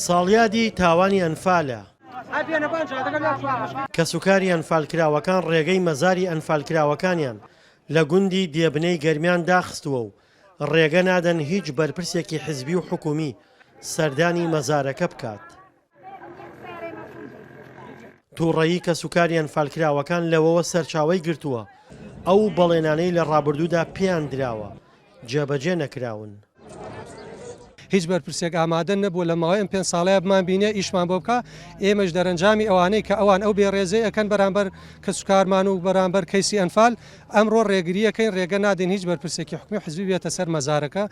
ساڵیادی تاوانی ئەنفالە. کەسوکاری ئەنفالکراوەکان ڕێگەی مەزاری ئەنفالکراوەکانیان لە گوندی دێبنەی گەرمیان داخستووە و ڕێگە نادەن هیچ بەرپرسێکی حزبی و حکوومی سەردانی مەزارەکە بکات. توڕەیی کەسوکاری ئەنفالکراوەکان لەوەوە سەرچاوەی گرتووە، ئەو بەڵێنانەی لە ڕابردوودا پێیان دراوە جێبەجێ نەکراون. هیچ بەرپرسێک ئامادە نەبووە لە ماوەی ئەم پێنج ساڵەیە بمانبینێ ئیشمان بۆ بکا، ئێمەش دەرەنجامی ئەوانەی کە ئەوان ئەو بێڕێزیەی ئەکەن بەرامبەر کەسوکارمان و بەرامبەر کەیسی ئەنفال ئەمڕۆ ڕێگرییەکەین، ڕێگە نادەین هیچ بەرپرسێکی حکومی و حزبی بێتە سەر مەزارەکە.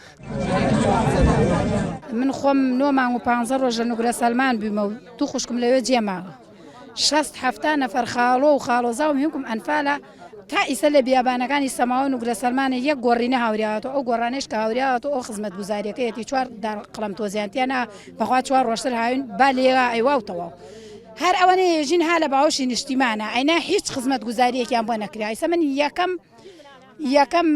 من خۆم نۆ مانگ و پانزە ڕۆژە نوگرە سەلمان بوویمە و دوو خوشکم لەوێ جێ ماوە. شەست حەفتا نەفەر خاڵۆ و خاڵۆزا و هیوکم ئەنفالە تا ئیسە لە بیابانەکانی سەماوە و نوگرە سەلمانە یەک گۆڕینە هاوریاوەتەوە، ئەو گۆڕانەیش کە هاوریاوەتەوە ئەو خزمەتگوزارییەکەیەتی چوار دار قەڵەم تۆزیان تیا نا، بەخوا چوار ڕۆژتر هاوین با لێیا ئەیوا و تەواو. هەر ئەوەنە یەژین ها لە باوەشی نیشتیمانە ئەینا هیچ خزمەت گوزاریەکیان بۆ نەکرا ئیسە من یەکەم یەکەم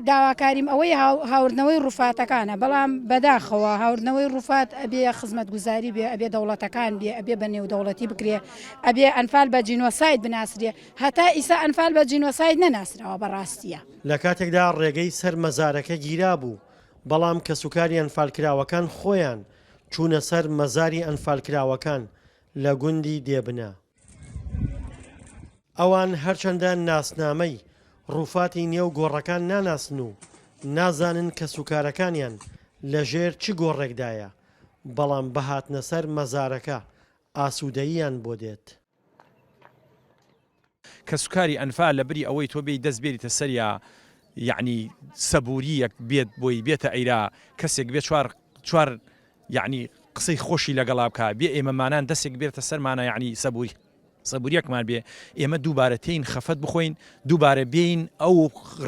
داواکاریم ئەوەی هاوردنەوەی ڕوفاتەکانە بەڵام بەداخەوە هاوردنەوەی ڕوفات ئەبێ خزمەت گوزاری بێ ئەبێ دەوڵەتەکان بێ ئەبێ بە نێودەوڵەتی بکرێ ئەبێ ئەنفال بە جینۆساید بناسرێ هەتا ئیسا ئەنفال بە جینۆساید نەناسراوە بەڕاستیە لە کاتێکدا ڕێگەی سەر مەزارەکە گیرابوو بەڵام کەسوکاری ئەنفالکراوەکان خۆیان چوونە سەر مەزاری ئەنفالکراوەکان لە گوندی دێبنە. ئەوان هەرچەندە ناسنامەی ڕووفاتی نێو گۆڕەکان ناناسن و نازانن کەسوکارەکانیان لە ژێر چ گۆڕێکدایە، بەڵام بە هاتنە سەر مەزارەکە ئاسوودەییان بۆ دێت. کەسوکاری ئەنفال لە بری ئەوەی تۆ بێی دەست بێریتە سەریا یعنی سەبوری یەک بێت بۆی بێتە ئەیرا کەسێک بێ چوار چوار یعنی قسەی خۆشی لەگەڵا بکە بێ ئێمەمانان دەستێک بێتە سەرمانە یعنی سەبووری سەبوریەکمان بێ ئێمە دووبارە تین خەفەت بخۆین دووبارە بین ئەو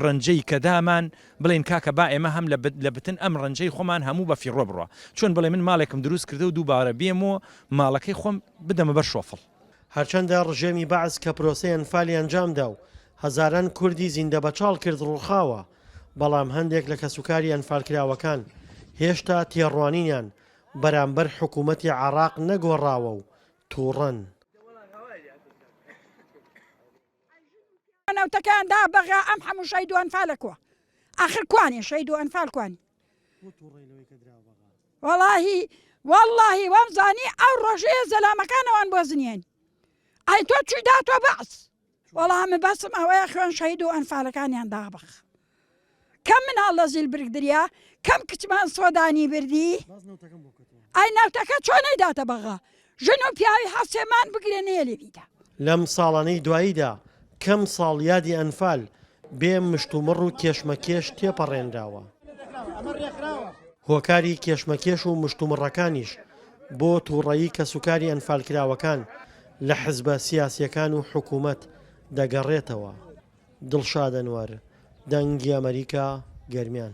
ڕەنجەی کە دامان بڵین کاکە با ئێمە هەم لە بتن ئەم ڕەنجەی خۆمان هەموو بە فیڕۆ بڕە چۆن بڵێ من ماڵێکم دروست کردە و دووبارە بێم و ماڵەکەی خۆم بدەمە بەر شۆفڵ. هەرچەندە ڕژێمی بەعس کە پرۆسەی ئەنفالی ئەنجامدا و هەزاران کوردی زیندەبەچاڵ کرد ڕووخاوە، بەڵام هەندێک لە کەسوکاری ئەنفالکراوەکان هێشتا تێڕوانینیان بەرامبەر حکوومەتی عێراق نەگۆڕاوە و تووڕەن. نەوتەکەیان دا بەغا ئەم حەموو شەید و ئەنفالە کووە ئاخر کوانێ شەید و ئەنفال کوانی وەڵاهی واللهی وام زانی ئەو ڕۆژەیە زەلامەکانەوان بۆ زنیێن ئای تۆ چی داتۆ بەعس وەڵام بەسم ئەوەیە خوێن شەید و ئەنفالەکانیان دابخ کەم مناڵ لە زیل برگدریا کەم کچمان سۆدانی بردی ئای ناوتەکە چۆنەی داتە بەغا ژن و پیاوی هەسێمان بگرێ نێ لێویدا. لەم ساڵانەی دواییدا کەم ساڵ یادی ئەنفال بێ مشتومڕ و کێشمەکێش تێپەڕێنراوە. هۆکاری کێشمەکێش و مشتومڕەکانیش بۆ توڕەیی کەسوکاری ئەنفالکراوەکان لە حزبە سیاسیەکان و حکومەت دەگەڕێتەوە. دڵشاد ئەنوەر، دەنگی ئەمەریکا، گەرمیان.